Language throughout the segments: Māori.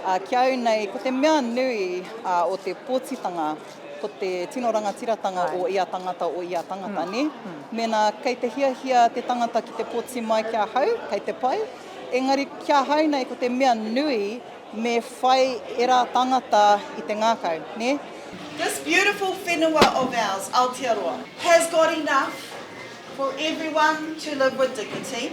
Ā, ki a au nei, ko te mea nui o te pōtitanga, ko te tino rangatiratanga o ia tangata, o ia tangata, nē? Mēnā kei te hiahia te tangata ki te pōti mai ki ahau, kei te pai. Engari, ki ahau nei, ko te mea nui, me whai ērā tangata i te ngākau, nē? This beautiful whenua of ours, Aotearoa, has got enough for everyone to live with dignity,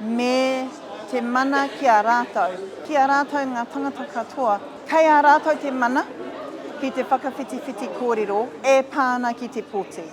me te mana ki a rātou, ki a rātou ngā tangata katoa. Kei a rātou te mana ki te whakawhitiwhiti kōrero e pā ana ki te poti.